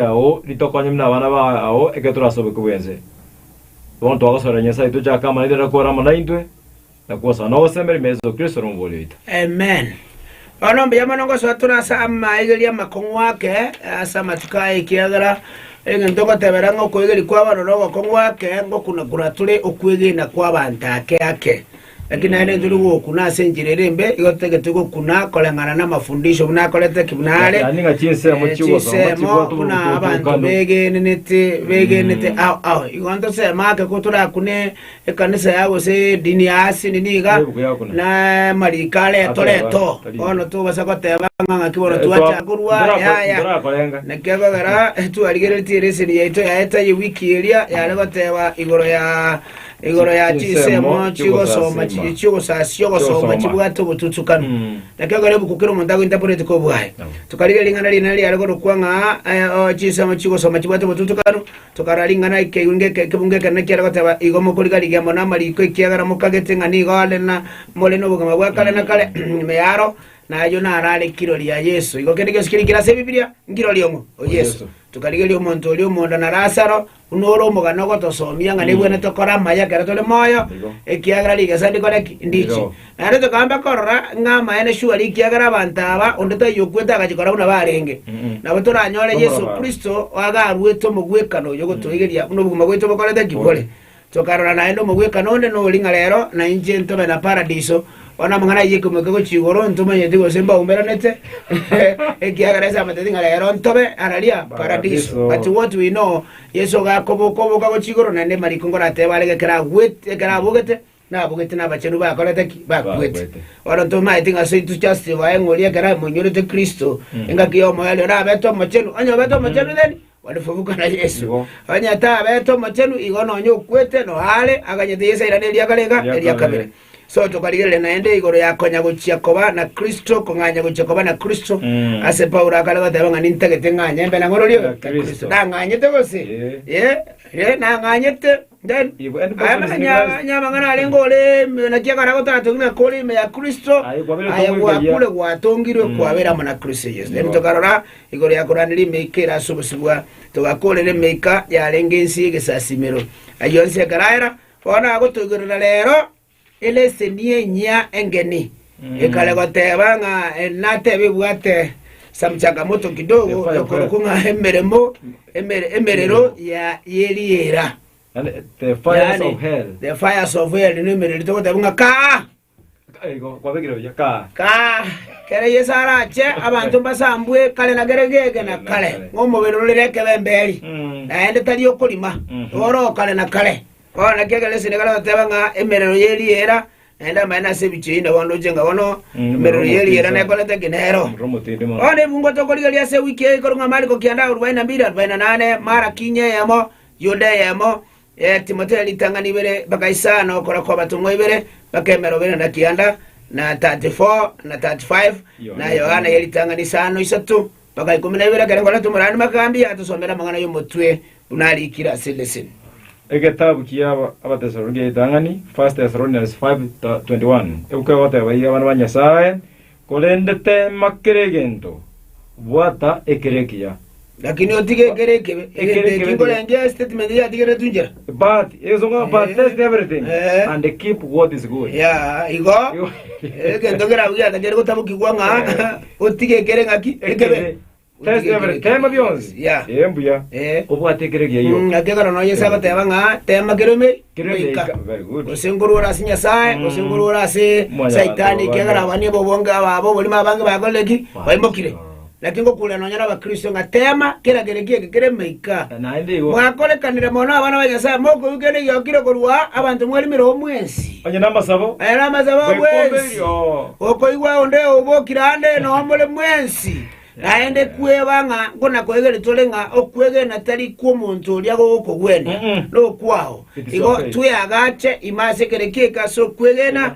ao ritokonye buna abana bao ekero torasobekigwe ense. Bono twagosorera Nyasae tochake amanyete na kore amo naintwe, na kogosana ogosembera ime Yeso Kristo ere Omobori oito. Amen. Bono mbuya mono ngosoa tore ase amaegeri amakong'u ake ase amatuko aya, ekiagera egento ngotebera ng'a okoegeria kw'abanto na ogokong'u ake ngokunakuna tore okwegena kw'abanto ake ake. Naki naende intwe nigo gokuna ase enchera ere embe, igo totagete gokuna koreng'ana namafundisho buna akorete ki buna are, ee, chinsemo buna abanto begenenete begenete ao ao. Igo ntoseme ake ko torakune ekanisa ya gose edini ya asili niga, na amariko are etorete oo. Bono tobasa goteba ng'a ng'aki bono twacha korwa, yaya. Naki ekogera twarigeretie leseni yaito yaye taiyo wiki eria yare goteba igoro ya Igoro ya chinsemo chigosoma chiria chiogosasia ogosoma chibwate obotutukanu. Naki ekero ebuku kera omonto agointaporeti kwa obwaye, tokarigia ring'ana rinene riare korokwa ng'a eh, chinsemo chigosoma chibwate obotutukanu, tokarora ring'ana ekeirwe ng'eke ekebungo ekenene kiare goteba, Igo mokorigarigia mono amariko ekiagera mokagete ng'a nigo are na more nobogima bwa kare na kare. Mearo, na ayio naro are kirori ya Yeso. Igo kende gionsi kere nkire ase Ebibilia, nkirori omo o Yeso. Tokarigeria omonto oria omonda na Lasaro, Buna ore omogano ogotosomia ng'a nebweene tokore amaya ekero tore moyo, ekiagera rigesa ndikore ki? Ndiche. Naende tokaamba korora ng'a amaene shwari ekiagera abanto aba onde taiyo okwete agachia kora buna barenge. Nabo toranyore Yeso Kristo agaruete omogwekano oyo ogotoigeria buna obogima bwaito bokorete ki? Bore. Tokarora naende omogwekano onde nori ng'a rero nainche ntobe na paradiso, Bono amang'ana ayio ekomoika gochia igoro ntomanyeti gose mbaumberanete, ekiagera ase amateti ng'a rero ntobe araria Paradiso. Paradiso. But what we know, Yeso iga akoboka oboka gochia igoro, naende mariko ngoratebe arenge ekero agwete, ekero abogete, nabogete nabachenu bakorete ki? Bakwete. Bakwete. Bono ntomanyeti ng'a ase to justify ng'a oria ekero amoinyorete Kristo, engaki y'omoyo aria orabete omochenu, onye obete omochenu then Barifubuka na Yeso, onye taabete omochenu, igo nonya okwete, noyo aare aganyete yesairana eria garega eria kabere. So tokarigereria naende igoro ya konya gochia koba na Kristo, kong'anya gochia koba na Kristo. Ase Paulo akare goteba ng'a nintagete ng'anye mbe na ng'ororio ya Kristo. Nang'anyete gose? Ee, nang'anyete. Then, aya makanyanya amang'ana arenge ore ime naki ekara gotatongire na kore ime ya Kristo, aye gwakure gwatongirwe kwabera amo na Kristo Yesu. Then tokarora igoro ya koranderia emeika ere ase obosibwa, togakorera emeika yarenge ense y'egesasimero. Ayio onsi ekaraera, bono nagotoigerera rero, Eleseni enyia engeni ekare goteeba ng'a natebe ebwate some changamoto kidogo ekorokwa ng'a emeremo emerero ye riera, yaani the fires of hell rende emerero togoteebwa ng'a kaa kaa. Ekero Yeso arache abanto mbasambwe kare na kare geke na kare ng'a omobere ore nekebemberi, naende tari okorima, oro kare na kare. Bono naki ekero Yeso nekare goteba ng'a emerero ye riera naende amaene ase ebichie inde bono ndoche ng'a bono emerero ye riera nekorete ki nero. Bono ebungo tokorigereria ase ewiki eye korwa ng'a Mariko kianda arubaini na mbiri arubaini na nane, Maraki inyo eyemo, Yuda eyemo, eh, Timotheo ritang'ani ibere, mpaka isano korwa kw'abatomwa ibere mpaka emerongo ene na kianda na 34 na 35, na Yohana ye ritang'ani isano isato. Mpaka ikomi na ibere ekero korente omorani Makambi atosomere amang'ana y'omotwe buna arikire ase leseni. Egetabu kia Abatesaloniki ya Ritang'ani, 1 Thessalonians 5:21, ebuku egoteba iga abana ba Nyasae, Korende teema kera egento, bwata ekero ekiya. Lakini otige ekero ekebe. Egento Ekero eki ekebe. nkorengeria statement yatigeretwe inchera. Igo, egento kerabwo giatakeire gotabokigwa ng'a otige ekere ng'aki? Ekebe. Naki ekero nonya Yeso agoteba ng'a tema kere emeeri, goika, gose nkorwore ase Nyasae, gose nkorwore ase Saitani, ekiagera abwo nibo bonge abwo oborimo abange bakorire ki? Baimokire. Naki ngokuuria nonya n'Abakristo ng'a teema kera kere ki'eke kere moika. Mwakorekanire mono abana ba Nyasae mokoigwena egiokire korwa abanto mwarimire oo mwensi. Onye namasabo bwensi, okoigwa onde obokire aande noo more mwensi, naende kweba ng'a nkona-koegeria tore ng'a okwegena tari kw'omonto oria gogokogwenia, nokwao. Igo tweagache ime ase kera ki'eke ase okwegena,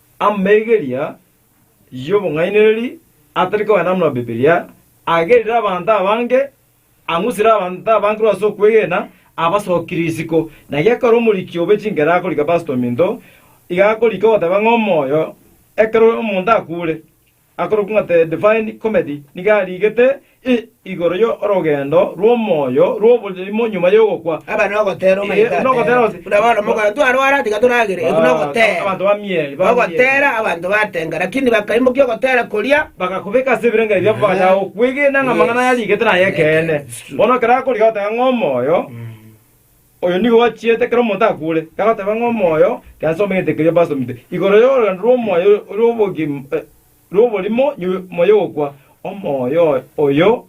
Amaigeria y'obong'ainereria atari kogenda buna Bibilia agerire abanto abange, ang'usire abanto abange korwa ase okwegena, abasokire isiko. Na gekero omoriki obe chinkera akorika Pastor ominto, iga akorika ogoteba ng'a omoyo ekero omonto akure, Akorokwa ng'a The Divine Comedy nigo arigete igoro y'orogendo rw'omoyo rw'oborimo nyuma y'ogokwa. Aba nogotera omanyete ateba. Nogotera oti. Buna bono omogwekano twarwara tigga toragere, eki nogotera. Abanto bamieri, bamieri. Ogotera abanto batenga, lakini bakaimokia ogotera koria. Bagakobeka ase ebirengererio biabo bagachaka gokwegena ng'a amang'ana aya arigete naye ekeene. Bono ekero akorigia goteba ng'a omoyo. Oyo nigo ochiete ekero omonto akure, agoteba ng'a omoyo Gesa omegete keria obasomete igoro y'orogendo rw'omoyo rw'oborimo nyuma y'ogokwa. Omoyo oyo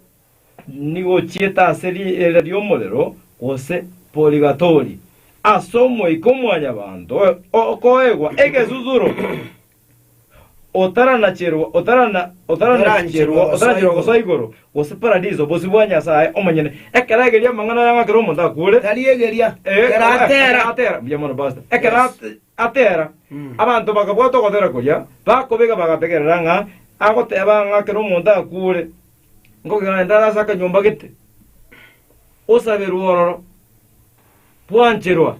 nigo ochiete ase riera ri'omorero gose purigatori, ase Omoika o Mwanyabaanto okoegwa egesusuro. otaranacherwa, otarana, otaranacherwa, otaranacherwa gosoa igoro, gose paradiso, bosio bwa Nyasae omonyene. Ekero ageria amang'ana aya ng'a ekero omonto akwore, Tarigeria. Eh, Ekero atera. atera mbuya mono pastor ekero Yes. ate- atera abanto bakabwata ogotera koria bakobega bagategerera ng'a agoteba ng'a ekero omonto akwore ngogenda ase akanyomba gete osaberwe ororo bwancherwa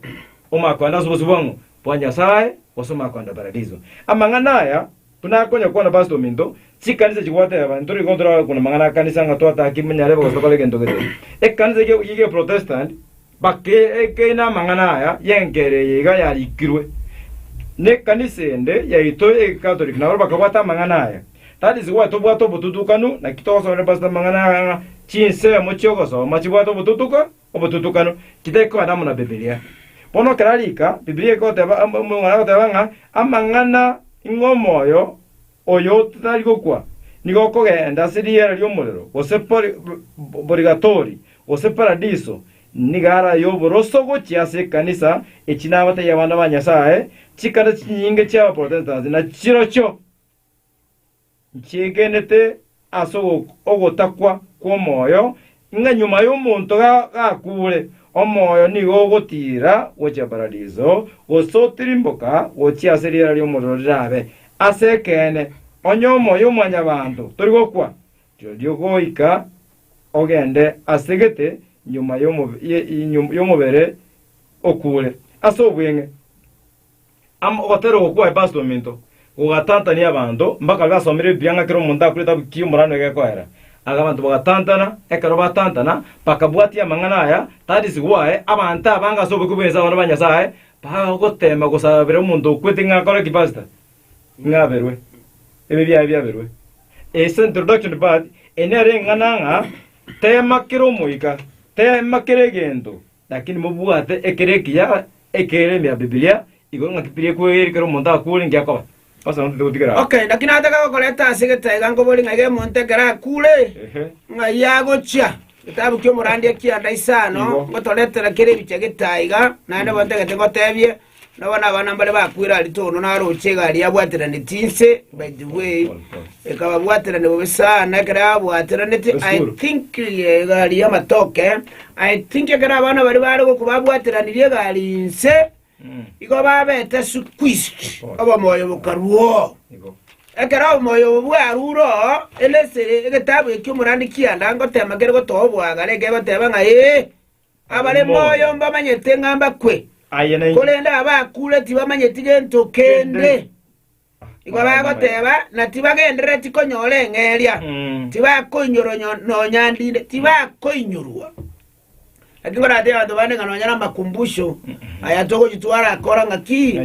omakwanda ase obosibwang'u bwa Nyasae gose omakwanda paradiso. Amang'ana aya buna akonyakwana Pastor Ominto, chikanisa chigoteba, ntore igo ntorore kuna amang'ana akanisa ng'a twatake ime nyarebe gose tokore egento gete. Ekanisa eke ye Geprotestant bake ekeina amang'ana aya y'enkera eye iga yarikirwe. Ne ekanisa ende yaito ye Catholic nabo bakabwata amang'ana aya. That is why tobwate obotutukanu, naki togosomerera Pastor amang'ana aya ng'a chinsemo chi'ogosoma chibwate obotutuka Obotutukano titari korana amo na Bibilia. Bono kera rika Bibilia egoteba amo omong'ina agoteba ng'a amang'ana ing'we omoyo oyo totari gokwa nigo okogenda ase riera ri'omorero, gose pori, porigatori, gose paradiso, nigo ara y'oboroso gochia ase ekanisa echi nabatebia abanto ba Nyasaye, chikanisa chinyinge chi'Abaprotestants na chirochio Nchiikenete ase ogotakwa kw'omoyo, ng'a nyuma y'omonto gakuure, omoyo nigo ogotiira gochia paradiso, gose otirimboka gochia ase riera ri'omorero rirabe. Ase ekeene, onye omoyo o mwanyabanto tori gokwa, rirorio goika ogende ase gete nyuma y'omobere okuure, ase obweng'e. Amo ogotera oko kwa Epasto ominto gogatantania abanto, mpaka gasomire Bibilia ng'a kera omonto akwete abukie omorano egekoera. Aya abanto bagatantana, ekero batantana bakabwatia amang'ana aya, Tadisi gwaye, abanto abange ase oboke bw'ense abanto ba Nyasae bagoteema gosabera omonto okwete ng'a akore ki, Pastor? Ng'a aberwe. Ebi biaye biaberwe. Ase introduction part eye nere eng'ana ng'a teema kera omoika, teema kera egento. Lakini mobwate ekero ekiya ekereme ya Bibilia igoro ng'a ki Bibilia ekweire ekero omonto akuure, inki akoba? Ase nabo totigotigara aa. Okay, naki nataka gokoreta ase getaega nkobori ng'a egero omonto ekero akuure, Ehe. ng'ai agochia. Getabu ki'omorandia kianda isano Igo. ngotoretera kera ebichia getaega, naende bontagete ngotebie Nabo nabana mbaria bakwire Aritono na Aroche iga aria abwateraneti inse, by the way, ekababwaterani bobe sana ekero abwateraneti, I think eh, iga aria amatoke, I think ekero abana bari bare goku babwateranirie iga aria inse, igo babete squeezed, obomoyo bokaruo. Ekero obomoyo obo bwaruro, elesere egetabu ekio omorandi kianda ngotema kere gotoa obwagare, ekegoteba ng'a ee, Abare moyo mbamanyete ng'a mbakwe, korende abakure tibamanyeti gento kende. Igo bagoteba, na tibagenderereti konyora eng'eria, tibakoinyorwa nonya ndinde, tibakoinyorwa. Naki koratebe abanto bande ng'a nonya namakumbusho aya togochia twarakora ng'aki,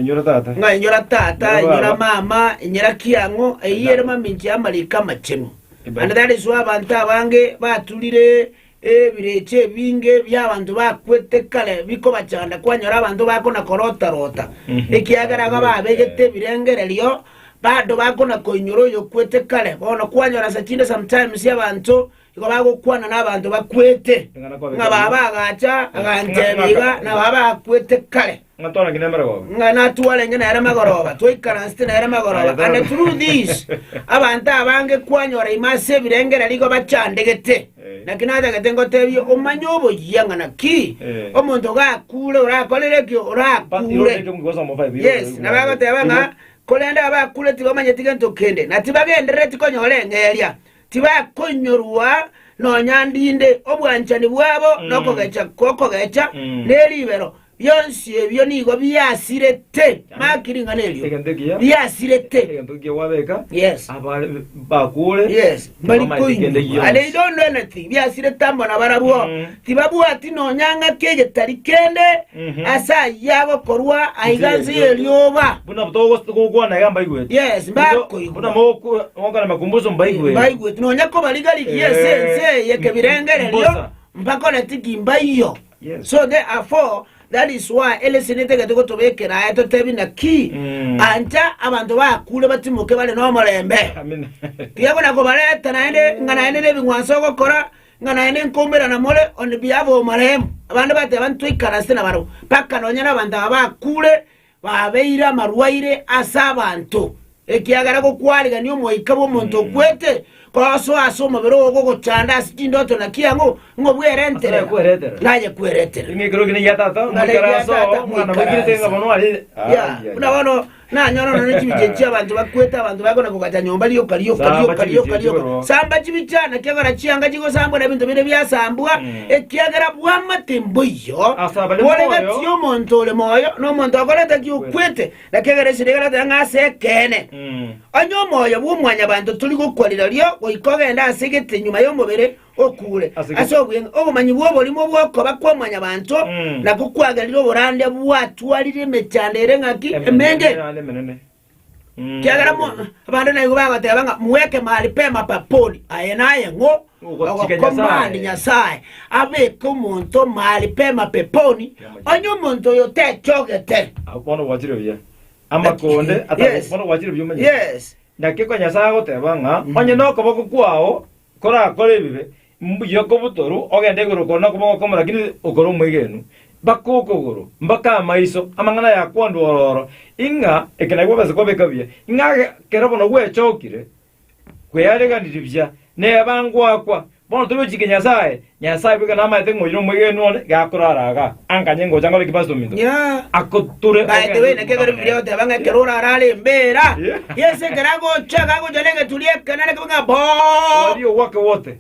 ng'a inyora tata, inyora mama, inyora ki ang'o, eyio ere mamincha y'amariko amachenu. Naende tari iswe abanto abange baturire Ebirecha ebinge bi'abanto bakwete kare bikobachanda kwanyora abanto bakona-korota-rota, ekiagera iga babegete ebirengererio, bande bakona-koinyora oyokwete kare. Bono kwanyora ase chinde sometimes abanto igo bagokwana nabanto bakwete, ng'a baba agacha agantebia iga nababa bakwete kare. Ng'a twarenge nere magoroba. ng'a natwarenge nere magoroba, twaikaransete nere magoroba. Aye, And through this, abanto abange kwanyora ime ase ebirengera nigo bachandegete. Eh. Naki natagete ngotebie, omanye oboyia ng'a naki Eh. omonto gakure orakorere ki, But you don't take orakure. him because I'm a five. Yes, na bagoteba ng'a korende abakure tibamanyeti gento kende, na tibagenderereti konyora eng'eria, tibakoinyorwa nonya ndinde, obwanchani bwabo Mm. nokogecha gokogecha Mm. neribero, Bionsi ebio nigo biasirete. Maki ring'ana erio. Egento ekiya. Biasirete. Egento ekiya gwabeka. Yes. Abare bakure. Yes. Bari Tibamaete kende koinywa. gionsi. Are ido ndweneti biasirete amo na barabwo. Mm. Tibabwati nonya ng'aki egetari kende Mhm. ase ayio agokorwa aiga nse y'erioba. Buna togo- togokwana iga mbaigweti. Yes, mbakoigwa. Buna moku- mokora makumbuso mbaigweti. Mbaigweti nonya kobariga rigiya ase Eh, ense eye kebirengererio, mbosa. mpaka oneti ki mbaiyo. So therefore that is why elesinete ege togotobekera aye totebi naki ancha abanto bakure batimoke bare nomorembe. Tiga buna kobareta naende ng'a naende nebing'wanso ogokora ng'a naende nkoumberana more on behalf of marehemu. Abande bateba ntwaikare ase nabarabwo mpaka nonya nabanto aba bakure Babeire amarwaire ase abanto, ekiagera gokwarigania omoika bw'omonto okwete kosoa ase omobere oo gogochanda ase chindoto na kiang'u, ng'a obwerentere naye kweretera. Ng'a eria ya Tata moikaranse. Ya, buna bono nanyora nonya ne chibichie chi'abanto bakwete, abanto bakona kogacha nyomba rioka rioka rioka rioka rioka, samba chibichie ana, ekiagera chianga chigosambwa na ebinto bire biasambwa, Ekiagera bwamate mboiyo boregatie omonto ore moyo na omonto okorenta ki okwete, na kiagera esiri egaratera ng'a ase ekeene. Onye omoyo bw'omwanyabanto tori gokwa rirorio goika ogende ase egete nyuma y'omobere okure ase obweng'e, obomanyi bw'oborimo bw'okoba kw'omwanyabanto nabwo kwagerire oborande bwatwarire emechando ere ng'aki? Emenge. Kiagera abande naigo bagoteba ng'a mweke maripema paponi aye naye ng'o ogokomandi Nyasae abeke omonto maripema peponi, onye omonto oyo techogete. Bono gwachire buya amakonde Yes. atago bono gwachire buya omanye Yes. naki ekero Nyasae agoteba ng'a onye nokoboko kwao korakore ebibe Mbuya kobutoru, ogende igoro okoro nokoboko okomo rakini okore omwegenwa. Mbaka okogoro, mbaka amaiso, amang'ana yakwandwa ororo, ing'a ekenabi gwabase kobeka buya, ing'a ekero bono gwechokire kweareganiri buya, neba ngoakwa. Bono tobe ochike Nyasae, Nyasae bweka namaete ng'a oyio nomwegenwa onde, iga akorara iga. Ankanye ngocha nkore ki pastor ominto? Ako tore By the way, naki ekero Bibilia egoteba ng'a ekero ore arare embeera, Yeso ekero agocha, iga agocha negeturi ekene, nakebe ng'a boo! Oria ogwake wote.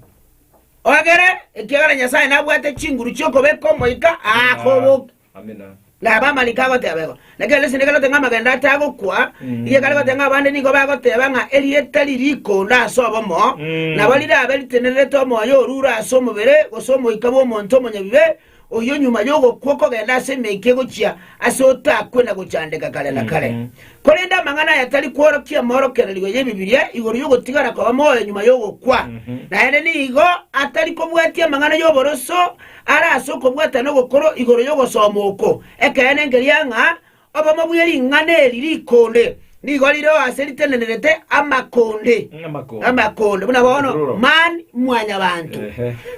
Ogere, ekiagera Nyasae nabwate chinguru chi'okobeka omoika akoboke. Amina. Na abamarika agoteba igo. Naki ere esende ekerete ng'a amagendo atagokwa, igo ekare goteba ng'a abande nigo bagoteba ng'a erieta riri ikondo ase obomo, nabo rirabe ritenererete omoyo orure ase omobere, gose omoika bw'omonto omonyabibe, oyio nyuma y'ogokwa okogenda ase emeke egochia ase otakwe na gochandeka kare na kare. Korende amang'ana aya tari kworokia emorokererio y'Ebibilia igoro y'ogotigara koba moyo nyuma y'ogokwa. Naende nigo atari kobwatia amang'ana y'oboroso are ase okobwatana ogokoro igoro y'ogosoma oko. Ekeene nkeria ng'a Obomo bwe ring'ana eri rikonde nigo rire ase ritenenerete amakonde, amakonde, buna bono man mwanyabanto.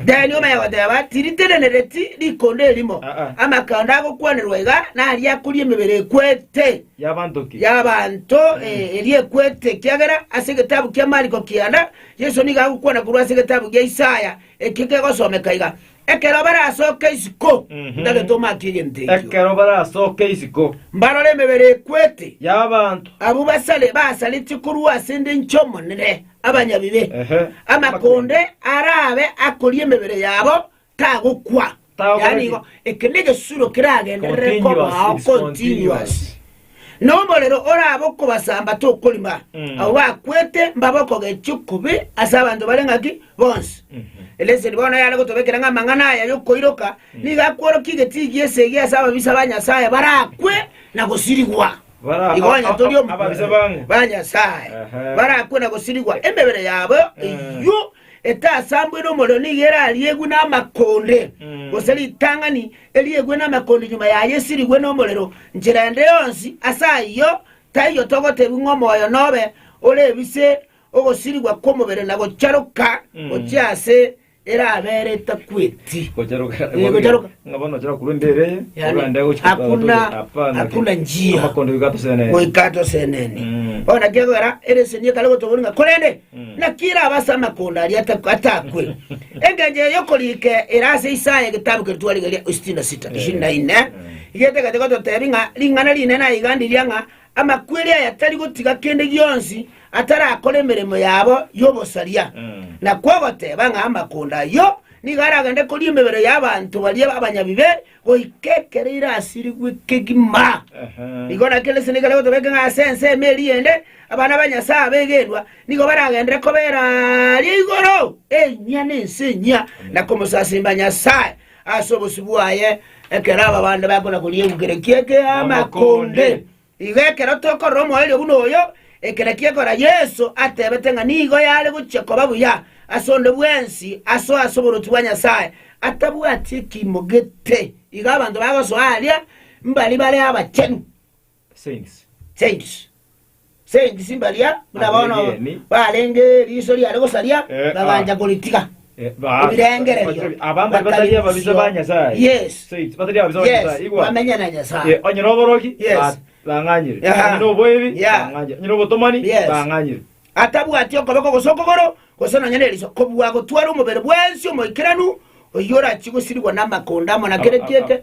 Then omanye goteba tiritenenereti rikonde erimo, amakonde agokwanerwa iga naria akoria emebere ekwete y'abanto eria ekwete, ekiagera ase egetabu kia Mariko kianda Yeso nigo agokwana korwa ase egetabu gia Isaya ekio kegosomeka iga, Ekero barasoke isiko, ntagete omake egento ekio. Ekero barasoke isiko. Mbarore emebere ekwete. Y'abanto. Abwo basare, basaretie korwa ase ende enchera Omonene, abanyabibe. Ehe. Amakonde arabe akoria emebere yabo, tagokwa. Tagokwa. Yaani igo, eke negesuro keragenderere Continuous, kobao it's continuous. continuous. Nomorero orabe okobasamba tokorima, abwo bakwete mbabe okogechia okubi ase abanto bare ng'aki bonsi. Leseni bono yare gotobekera ng'a amang'ana aya y'okoiroka nigo akworokia egetiigi esegi ase ababisa ba Nyasae barakwe na gosirigwa. Ababisa ba Nyasae barakwe na gosirigwa, emebere yabo eyio Etasambwe nomorero nigo erariegwe namakonde, gose ritang'ani eriegwe namakonde nyuma yaye esirigwe nomorero nchera ende yonsi. Ase ayio taiyo togotebia ng'a omoyo nobe ore ebise ogosirigwa kw'omobere na gocharoka gochia ase erabere etakweti. Hakuna njia goika atosenene. Bono naki egokera, ere eseni ekare gotoboria ng'a korende Naki ere abase amakonda aria atakwe, engencho eye y'okorika ere ase Isaya egetabu keria twarigereria 66:24, getagete gototeebia ng'a ring'ana rinene aiga ndiria ng'a amakweri aya tari gotiga kende gionsi atarakore emeremo yabo y'obosaria, na kwogoteeba ng'a amakonda ayio nigo aragende koria emebere y'abanto baria abanyabibe, Goika ekero irasirigwe kegima, nigo na Kristo nigo are gotobeka ng'a ase ensemo eria ende abana ba Nyasae abegenwa nigo baragenderere kobera aria igoro enyia na ense enyia, na komosasimba Nyasae ase obosio bwaye ekero ababande bakona koriegwa kere ki'amakonde. Igo ekero tokorora omoerio buna oyo, eke nakio ekora Yeso atebete ng'a nigo yare gochia koba buya ase onde bwensi asoe ase oboruoti bwa Nyasae, atabwati ekiimo gete. Igo abanto bagosoa aria mbari bare abachenu, saints, mbaria buna bono barenge riiso riare gosaria, bagancha koritiga. Ebirengererio, bakaria bosio. Yes. Yes. Bamenya na Nyasaye. onye noboroki Yes. ba- bang'anyire Yeah. onye noboebi Yeah. bang'anyire onye nobotomani Yes. bang'anyire atabwati okoboko gose okogoro gose nonya neriso kobua gotwara omobere bwensi omoikeranu oyio orachie gosirigwa namakonda amo na kere kiete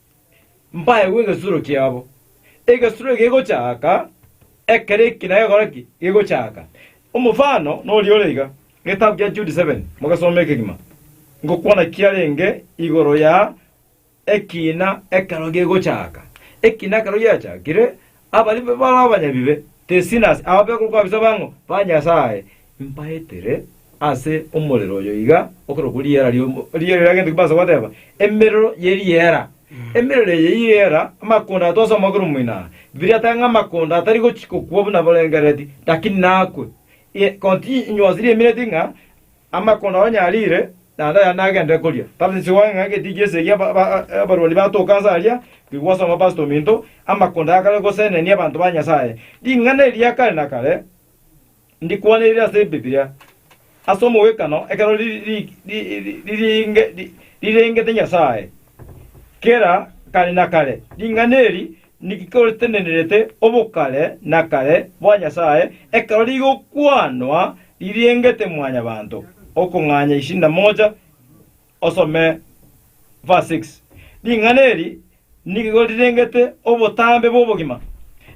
Mpaegwe egesuro kiabo. Egesuro eke gegochaka ekero eki na gekore ki? Gegochaka. Omofano noria ore iga, getabu kia Jude 7, mogesome ekegima. Ngokwana kiarenge igoro ya ekiina ekero gegochaka. Ekiina ekero giachakire, Abaria bare abanyabibe, te sinners, aba begokwa kabisa bang'o? Ba Nyasae. Mbaetere ase omorero oyo iga okorokwa riera ri'omo- riera riria gento ki mbansa goteba, emerero y'eriera. Emerero eye y'eriera, amakondo aya twasoma korwa moino aa, Bibilia eteba ng'a amakondo atari gochi- gokwa buna borengerereti, lakini nakwe. Ye- Continue- Inwe ase riemereti ng'a Amakona onye arire, naende ayande agende koria. Persis oe ng'a egetiki ase egia ba- ba- abarwani batoke ase aria, rigwa ase amapasta ominto, amakonda yakare gosenenia abanto ba Nyasae. Ring'ana eria kare na kare ndikwaneire ase Ebibilia, ase omogwekano ekero ri- ri- ri- ri- riringe- ri- rirengete Nyasae kera kare na kare. Ring'ana eri Niki kotenenerete obokare na kare bwa Nyasae, ekero rigokwanwa ririengete Mwanyabaanto? Okong'anya isida moja osome Verse 6. Ring'ana eri nigo rirengete obotambe bw'obogima.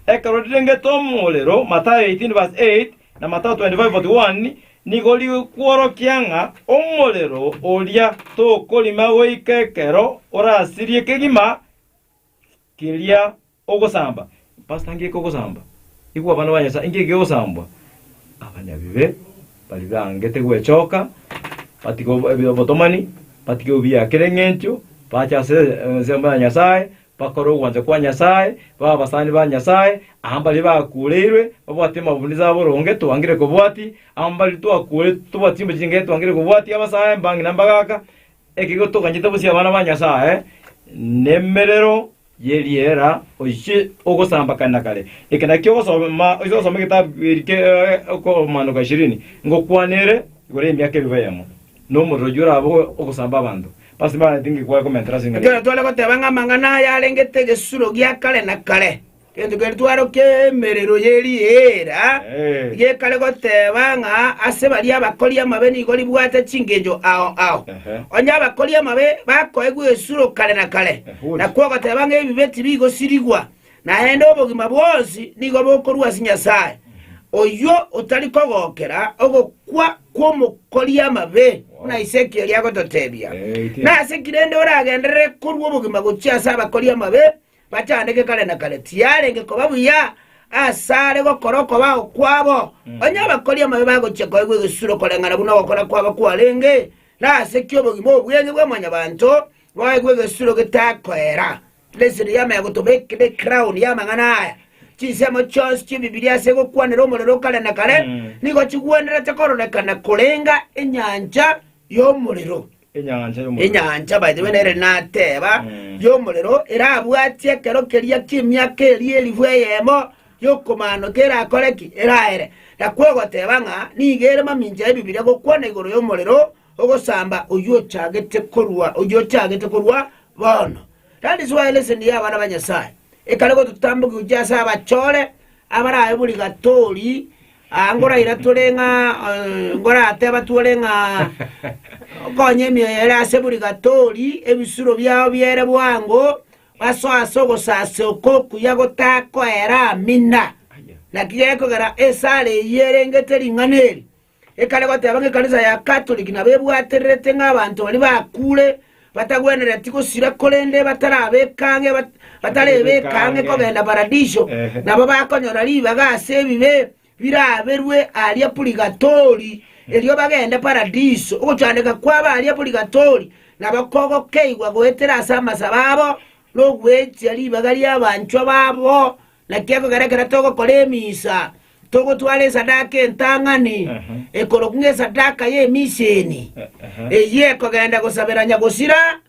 Ekero rirengete omorero, Mathayo 18 verse 8 na Mathayo 25 41, nigo rigokworokia ng'a omorero oria tokorima goika ekero orasirie kegima keria ogosamba. Pastor ngeke ogosamba igwe abana ba Nyasaye ngeke ogosambwa abanyabibe baria bangete gwechoka batige obo- ebi- obotomani batige obuya kera eng'encho bache ase ensemo ya Nyasaye bakore ogwancha kwa Nyasaye babe abasani ba Nyasaye aa mbaria bakureirwe babwate amabunizo abo boronge twangire kobwati aa mbaria twakure tobwati chimbe chinge twangire kobwati abasae mbang'ina mbagaka Ekiagera toganyete bosio abana ba Nyasae nemerero y'eriera oiche ogosambakana kare. Eke nakio ogosoma oiche ogosoma egetabu eri ke okomanuka ishirini ngokwana ere igoro y'emiaka elfu eyemo na omorero oyio orabe ogosamba abanto. Basi mbaraneti ngikwaye komentera ase eng'encho Ekero tore goteba ng'a amang'ana aya arengete egesuro gia kare na kare, Gento keria twarokia emerero ye riera gekare goteba ng'a ase baria abakori amabe nigo ribwate chingencho ao ao. Onye abakori amabe bakoegwa esuro kare na kare, nakwo ogoteba ng'a ebibe tibigosirigwa, naende obogima bwonsi nigo bokorwa ase Nyasae, oyio otari kogokera ogokwa kw'omokori amabe, buna Ezekiel oria agototebia. Nase ki rende oragenderere korua obogima gochia ase abakori amabe Bachandeke kare na kare, tiyarenge koba buya asare gokora okobao kwabo, onye abakori amabe bagochia koegwa egesuro koreng'ana buna ogokora kwabo kwarenge, na ase ki obogima obo bw'ense bwa Mwanyabaanto boegwe egesuro getakoera? Leseni y'amaya gotobekire ekraoni y'amang'ana aya. Chinsemo chionsi chi'Ebibilia ase gokwanera omorero o kare na kare nigo chigwenerete kororekana koreng'a enyancha y'omorero. Enyancha y'omorero. Enyancha, by the way, nere nateba Mm. y'omorero erabwatie ekero keria ki'emiaka eria elifu eyemo y'okomaanoka erakore ki? Eraere. Nakwo ogoteba ng'a nigo ere mamincha y'Ebibilia gokwana igoro y'omorero ogosamba oyio ochagete korwa oyio ochagete korwa bono. That is why lesson ya abana ba Nyasaye ekare gototambokia gochia ase abachore abarabe bori gatori Aa ngorairature ng'a ngoratebe atwore ng'a okonye emioyo ere ase buri gatori, ebisuro biao biere bwango, basoe ase ogosasima okwo okuya gotakoera amina. Naki gekogera esare eyio erengete ring'ana eri, ekare goteba ng'a ekanisa ya Katoliki nabo ebwatererete ng'a abanto baria bakure, batagwenereti gosira korende batarabekang'e, batarebekang'e kogenda Paradiso, nabo bakonyora ribaga ase ebibe biraberwe aria purigatori, erio bagende Paradiso. Ogochandeka kwabo aria purigatori nabo kogokeigwa goetera ase amasabo abo na ogwechia ribaga ri'abanchwa babo. Naki ekero ekero togokora emisa, Togotwara esadaka entang'ani ekorokwa ng'esadaka y'emiseni, eyio ekogenda gosabera Nyagosira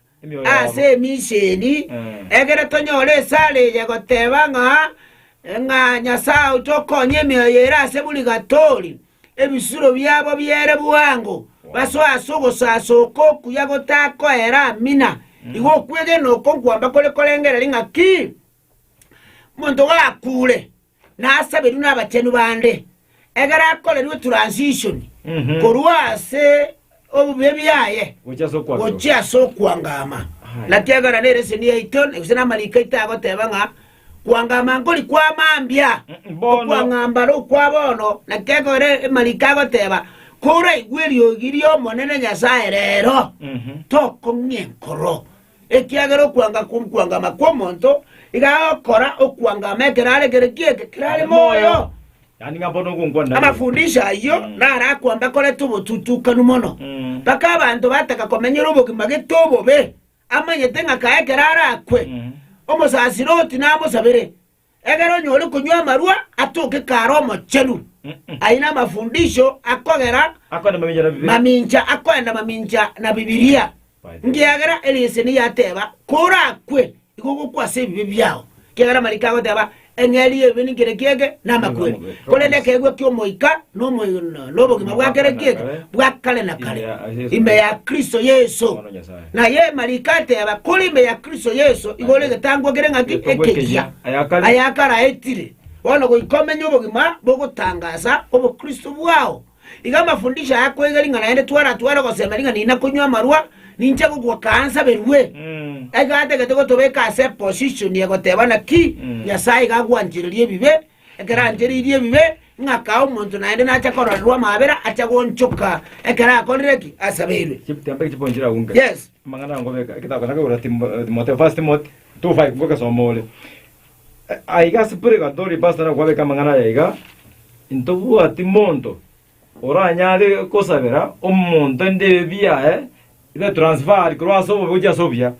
ase emiseni, egere tonyore esare eye egoteba ng'a Nyasae oito okonye emioyo ere ase burigatori, ebisuro biabo biere bwango, basoe ase ogosaasa oko okuya gotakoera amina. Igo okwegena oko nkwamba kore korengereria ng'a ki? Monto gakuure. Nasaberwe nabachenu bande, ekero akorerwe transition korwa ase obobe bwaye gochia ase okwangama. Naki ekero nere eseni yaito, gose namariko aito agoteba ng'a kwangama nkori kwa mambia, okwangamba are okwa bono, naki ekero amariko agoteba koraigwe eriogi ri'Omonene Nyasae rero, tokong'ia enkoro. Ekiagera okwanga kw'okwangama kw'omonto iga agokora okwangama ekero are kere ki eke kerare moyo. Amafundisho ayio narakwa mbakorete obotutukanu mono, mpaka abanto bataka komenyera obogima gete obobe, amanyete ng'a kae ekero arakwe, omosasiroti namosabere, Egera onyore konywa amarua atoke kare omochenu, ayio namafundisho akogera mamincha akoenda mamincha na Bibilia, nkiagera ereseni yateba, Korakwe, igo gokwa ase ebibe biao. Kiagera amariko agoteba, Eng'eria y'ebibe ninki ere kiege, namakweri, korende ekeegwa ki'Omoika nobogima bwa kera kiege bwa kare na kare, ime ya Kristo Yeso. Naye marikate ya bakure ime ya Kristo Yeso igoro egetangwa kere ng'aki ekeyia, ayakaraetire, bono goika omenye obogima bogotangasa obokristo bwao. Iga amafundisho aya akoiga ring'ana erinde twaratware ogosema ring'ana eri na konywa amarwa, ninche gokwa kaansaberwe. Iga atagete gotobeka ase eposishoni ya goteba naki Nyasae iga agwanchereria ebibe Ekero ancheririe ebibe, ing'akaa omonto naende nacha kororerwa amaabera, acha goonchoka ekero akorire ki? Asabeirwe. Chitambe chipo nchire agwo nka. Yes. Amang'ana aya ngobeka egetako na kegoro Timo- eh, Timotheo, First Timothy 2:5 ngogesoma ore. Eh, Aiga ase purigatori pastor nakwabeka amang'ana aya iga, Intobwati monto Oranyare gosabera omonto endebi yaye ibe transferred korwa ase obobe gochia ase obuya.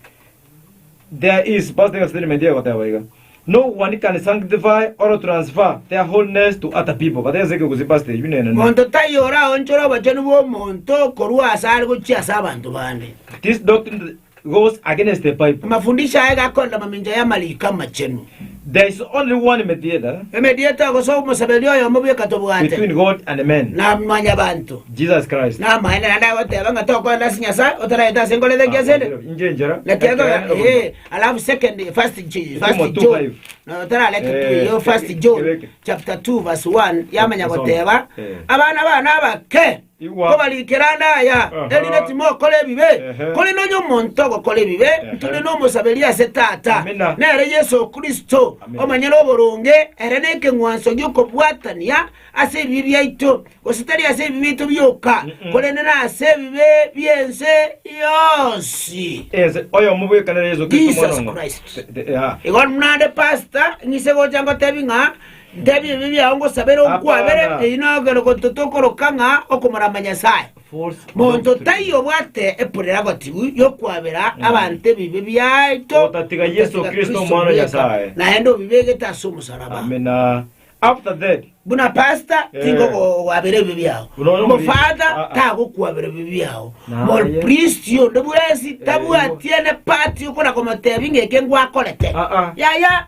There is past tense statement egoteba iga. No one can sanctify or transfer their holiness to other people. But tense ekegusi past tense you nene. Monto taiyo oraonchore obochenu bw'omonto korwa asare gochia ase abanto bande. This doctrine goes against the Bible. Amafundisho aye gakorera mamincha y'Amariiko Amachenu. There is only one mediator Emedieta gose omosaberia oyomo bweka tobwate, between God and men, na mwanyabanto. Jesus Christ. Namaene naende agoteba ng'a tokoenda ase Nyasae otaraete ase nkoro etari ase ende. Inche enchera Naki ekero ekero nere ee, omonto. alafu second first J- first Omoto John five. na otarareke Eh, tu iyo first John ebeke. chapter 2 verse 1 yamanya Esoma. goteba Eh. abana bana abake Kobarikera ande aya, erinde timokora ebibe, korende onye omonto ogokora ebibe, ntore nomosaberia ase Tata, nere Yeso Kristo, omonyene oboronge, ere nekeng'wanso gi'okobwatania ase ebibe biaito, gose tari ase ebibe biaito bioka, korende nase ebibe bi'ense yonsi. Jesus Christ. Igo naende pastor, ng'ise gocha ngotebi ng'a. Ntebia ebibe biao ngosabere onkwabere, eyio nagokenda gototo okoroka ng'a okomorama Nyasae. Monto taiyo obwate epurira gotibu yokwabera abanto ebibe biaito Otatiga Yeso Kristo, Omwana o Nyasae. naende obibegete ase omosaraba. Amina. After that, Buna pastor Eh. tingokwabera ebibe biao, Buna oyo omoriri. omofada Ah, ah. tagokwabera ebibe biao, Naye. mopristi onde bwensi tabwatiene part yokona komotebi ng'eke ngwakorete. Ah, ah. Yaya.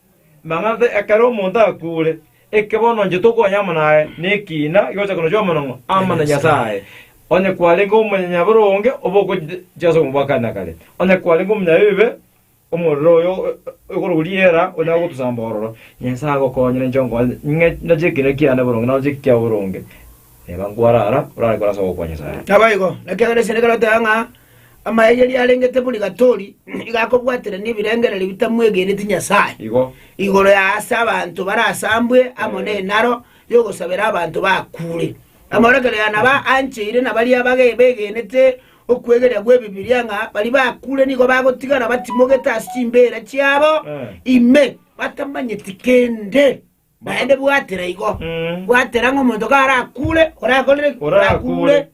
Mang'ase ekero omonto akuure, eke bono inche tokonya amo naye nekiina gigocha konochia amanong'o amo na Nyasae, onye kwarenge omonyanyabibe onge obe ogochia ase omobwakani na kare, onye kwarenge omonyabibe, omorero oyo okorokwa riera onyare gotosamba ororo. Nyasae agokonye na inche onkonye, ng'e noche ekiina kiane boronge, naroche eki kiao boronge. Reba nkwarara, orare kore ase ogokwa Nyasae. Naboigo, ekiagera esende ekero oteba ng'a Amayegeria arengete bori gatori nigo akobwaterania ebirengererio bitamwegeneti Nyasae Igo. igoro ya aase abanto barasambwe amo nenaro y'ogosabera abanto bakuure. Amorekero ya naba ancheire na baria bage begenete okwegeria gw'Ebibilia ng'a bari bakuure nigo bagotigara batimogete ase chimbeera chiabo Eh. ime batamanyeti kende. Naende bwatera igo. Mm. Bwatera ng'a omonto karakuure, orakorere ki? Orakuure.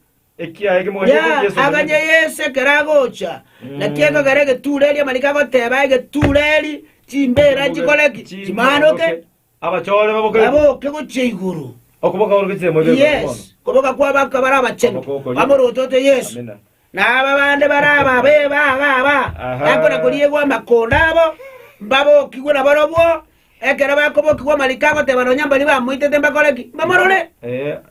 Aganya Yeso ekero agocha, naki ekogera egetuuro erio amanyinga agoteba egetuuro eri, Chimbeera nchikore ki? Chimaanoke, baboke gochia igoro. Koboka kwabo akaba are abachenu, bamorotote Yeso, na aba bande bare ababe babo aba, bakona koriegwa amakondo abo, mbabokigwe nabarobwo, Ekero bakobokigwa amariko agoteba nonya mbaria bamoitete mbakore ki? Mbamorore.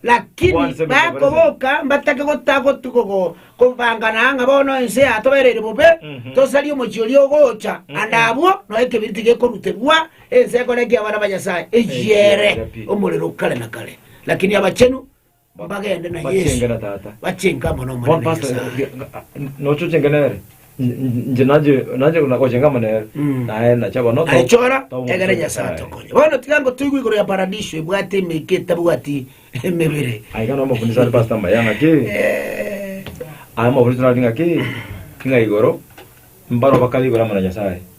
Lakini bakoboka mbatake gotagotugogo kobangana ng'a bono ense yatobereire bobe, tosarie omochie oria ogocha, ande abwo noe ekebiriti gekoruterwa, ense ekore ki abana ba Nyasae? Eyiere omorero o kare na kare. Lakini abachenu. Bagende na Yesu. Bachenge na Tata. Bachenge amo n'Omonene Pastor, Nyasae. nochochenga nere nje naje naje gochenga amo nere naye nacha bono to- Aichora to- egere Nyasae atokonye. Bono tiga ngo toigwe igoro ya paradiso ebwate emeke etabwati emebere. Aye kana omofundisi ari pastor maya ng'aki aye omofundisi nari ng'aki ng'a igoro mbaro bakare igoro amo na Nyasae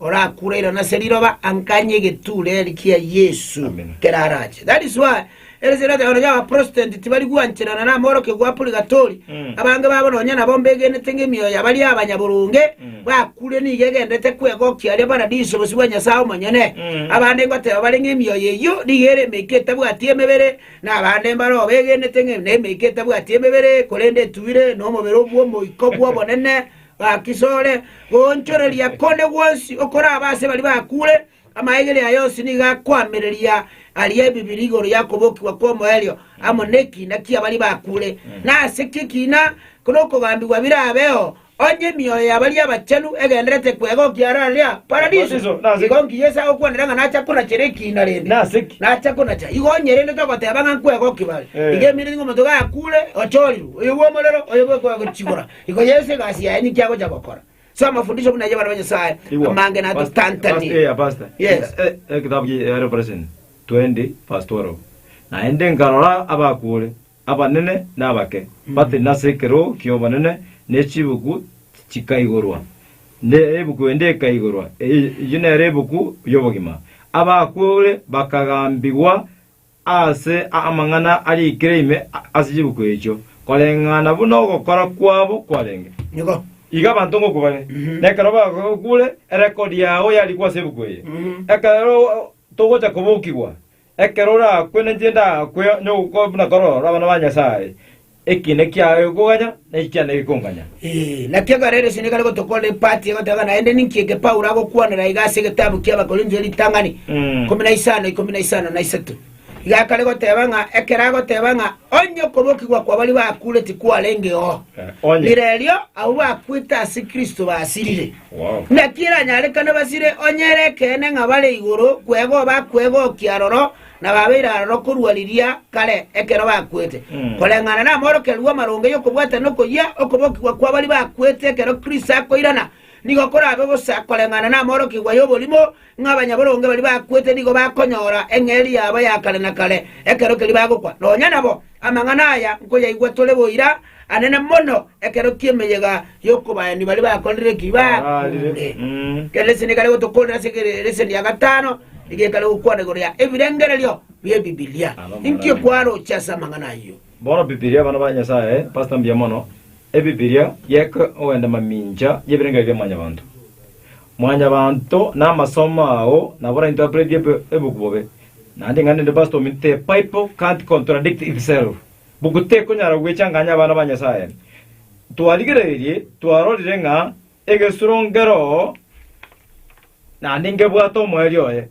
Orakure irano ase riroba anganye egetuureri kia Yesu ekero arache. That is why ere esegi erateba nonya abaprotestant tibari gwanchera nonye namorokia gwa purigatori, abange babo nonya nabo mbegenete ng'a emioyo ya baria abanyaboronge bakure nigo egenderete kwegokia aria paradiso bosio bwa Nyasae omonyene. Abande ngoteba bare ng'a emioyo eyio nigo ere emeika etabwati emebere, na abande mbare oo begenete ng'a nemeika etabwati emebere korende etuire nomobere obw'omoika obw'obonene, Gaki sore goonchoreria konde gwonsi okorabe ase baria bakure, amaegere aye onsi nigo akoamereria aria ebibiri igoro y'okobokigwa kw'omoerio amo nekiina ki'abaria bakure. Na ase ki ekiina korwa okogambigwa birabeo, onye emioyo ya baria abachenu egendererete kwega okiarareria Paradiso? Igo nkiya ase agokwanera ng'a nacha konachera ekiina rende? Nacha konacha. Igo onye rende togoteba ng'a nkwega okibare, igo eminto ng'omonto gakure, ochorirwe, oyobwe omorero, oyobwe kwega gochigora, Igo Yesu egasi yaye ninki agocha gokora? So amafundisho buna ay'abana ba Nyasae Igwa. amange Pastor, pastor, natotantanie. eh, pastor. Yes. Eh, eh, ekitabu kia Revelation 20 verse 12 naende nkarora abakuure abanene na abake batiri nase ekeroo ki'obonene ne chibuku chikaigorwa ne ebuku ende ekaigorwa eye- eyio nere ebuku y'obogima abakuure bakagambigwa ase amang'ana ariikire ime ase chibuku echio, koreng'ana buna ogokora kwabo kwarenge. Nigo. Iga abanto ngokwa bare, na ekero bagokure, erekodi yao yarikwa ase ebuku eye. Ekero togocha kobokigwa, ekero orakwe, ninche ndakwe nyoko- buna kororo abana ba Nyasae, Ekiina kiaye gikoganya, na echi chiana gikonganya. Ee, naki ekero Yeso nigo are gotokorera epati egoteba, Naende ninki eke Paulo agokwanera iga ase egetabu ki'Abakorintho eritang'ani ikomi na isano, ikomi na isano na isato? Iga akare goteba ng'a ekero agoteba ng'a onye okobokigwa kw'abaria bakure tikwarenge oo, Onye. rirerio abwo bakwete ase Kristo basirire. Wow. Naki eranyarekane basire onye ere ekeene ng'a bare igoro kwegwa bakwegookia aroro na babeire aroro korwa riria kare ekero bakwete, koreng'ana namorokererwa amaronge y'okobwata na okoyia okobokigwa kwa baria bakwete ekero Kristo akoirana, nigo korabe bosa koreng'ana namorokigwa y'oborimo, ng'a abanyaboronge baria bakwete nigo bakonyora eng'eria yabo ya kare na kare ekero keria bagokwa. Nonya nabo amang'ana aya nkoyaigwa tore boira, anene mono ekero ki'emeyega y'okobaani baria bakorire ki? Baarire. Kera leseni ekare gotokoorera ase kera leseni ya gatano nigo ekare gokwana igoro ya ebirengererio bi'Ebibilia. Inki okwaroche ase amang'ana ayio? Bono Bibilia, abana ba Nyasae, Pastor mbuya mono. Ebibilia yeka ogenda mamincha y'ebirengererio bia mwanyabanto. Mwanyabanto namasomo ao nabo ora interpret ebi- ebuku bobe. Naende ing'ana ende Pastor ominto, The Bible can't contradict itself. Book tekonyara gwechanganya abana ba Nyasaye. Twarigerererie twarorire ng'a egesuro nkeroo naende nkebwate omoerio oye.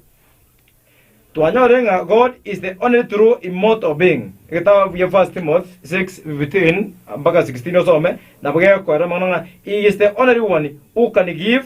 Twanyorire ng'a God is the only true immortal being. Egetabo gia 1 Timothy 6:15-16 osome, nabo gegokoera amang'ana ng'a he is the only one who can give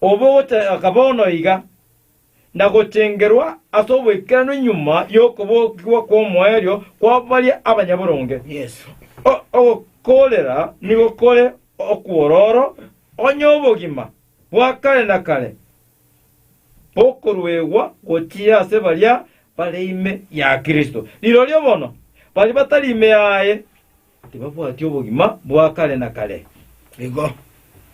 obogochaka bono iga, na gochengerwa ase oboikeranu nyuma y'okobokigwa kw'omoerio kwa baria abanyaboronge. O- Ogokoorera nigo kore okwororo, onye obogima bwa kare na kare bokoruegwa gochia ase baria bare ime ya Kristo. Rirorio bono, baria batari ime yaye, Tibabwati obogima bwa kare na kare. Igo,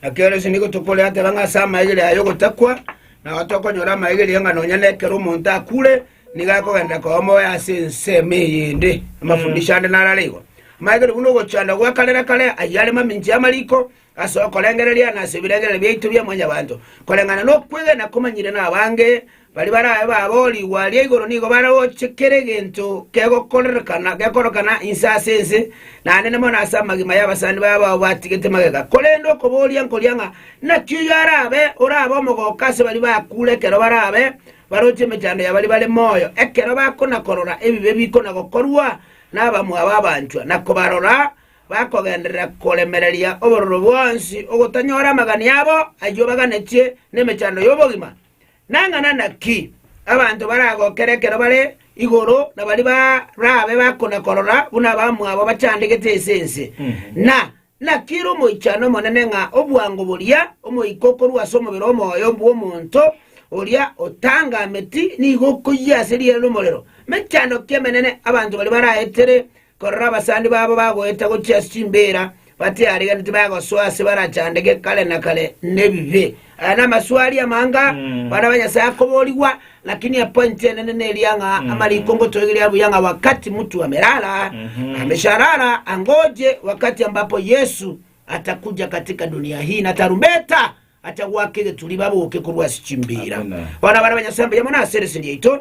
ekiagera ase nigo tokoreatera ng'a ase amaegeri aya y'ogotakwa nao tokonyora amaegeri ng'a nonya nekero omonto akure nigo akogenderera koba moyo ase ensemo eyende. Amafundisho ande narare igo. Amaegeri buna ogochanda gwa kare na kare ayio are mamincha y'amariko, Ase okorengereria na ase ebirengererio biaito bia Mwanyabaanto, koreng'ana nokwegena komanyire nabaange baria barabe baabo rigwa ria igoro nigo bare gocha kera egento kegokorerekana gekorokana inse ase ense, nanene mono ase amagima y'abasani babo abwo batigete magega. Korende okoboria nkoria ng'a naki oyio arabe orabe omogooko ase baria bakuure ekero barabe baroche emechando ya baria bare moyo, ekero bakona-korora ebibe bikona-gokorwa nabamwabo abanchwa, na kobarora bakogenderera koremereria obororo bwonsi ogotanyora amagani abo ayio baganetie nemechando y'obogima. Nang'ana naki abanto baragokera ekero bare igoro na baria barabe bakona-korora buna abamwabo bachandegete ase ense, na naki ere omoichano omonene ng'a obwango boria omoika okorua ase omobere omoyo bw'omonto oria otangameti nigo okoyia ase riire ri'omorero. Mechando ki emenene abanto baria baraetere Korora abasani babo bagoeta gochia ase chimbeera batiarigeretie bagosoa ase barachandeke kare na kare nebibe. Aya namaswaria amanga bana ba Nyasae akoborigwa, lakini epointi enene neria ng'a amariko ngotoigeria buya ng'a wakati mutu amerara amesharara angoje wakati ambapo Yesu atakuja katika dunia hii na tarumbeta atagwaka egeturi baboke korwa ase chimbeera. Bono abana ba Nyasae mbuya mono ase erese riaito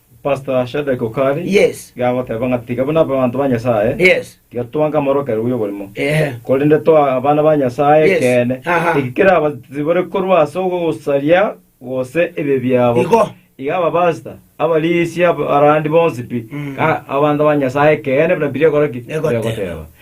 Pastor Shadrack Okari Yes. iga agoteba ng'a tiga buna abanto ba Nyasae Yes. tiga twange amorokererwa y'oborimo, Ehe. korende toa abana ba Nyasae Yes. ekeene. Aha. Eki kerabatibore korwa ase ogosaria gose ebibe biabo. Igo. Iga abapastor, abarisia, abarandi bonsi pi, Mm. ka- abanto ba Nyasae ekeene buna Bibilia egokora ki? Egoteba. Egoteba.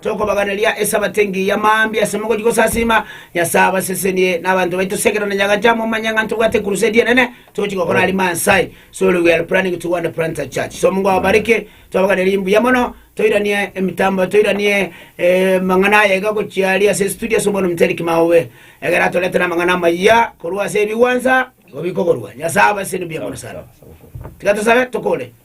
Tokobaganeria Esabato engiya mambia ase mogori gosasiima Nyasae abasesenie na abanto baito Segera na Nyagacha momanye ng'a ntobwate ekurusedi enene togochia gokora Rima Nsae Sorry we are planning to go and plant a church so Mungu awabariki Twabaganeria mbuya mono toiranie emitambo toiranie amang'ana aya iga gochia aria ase estudio ase obono ominto Eric Maowe egere atoretera amang'ana amayia korwa ase ebigwansa igo bikogorwa Nyasae abasesenie mbuya mono sana Tiga tosabe tokore.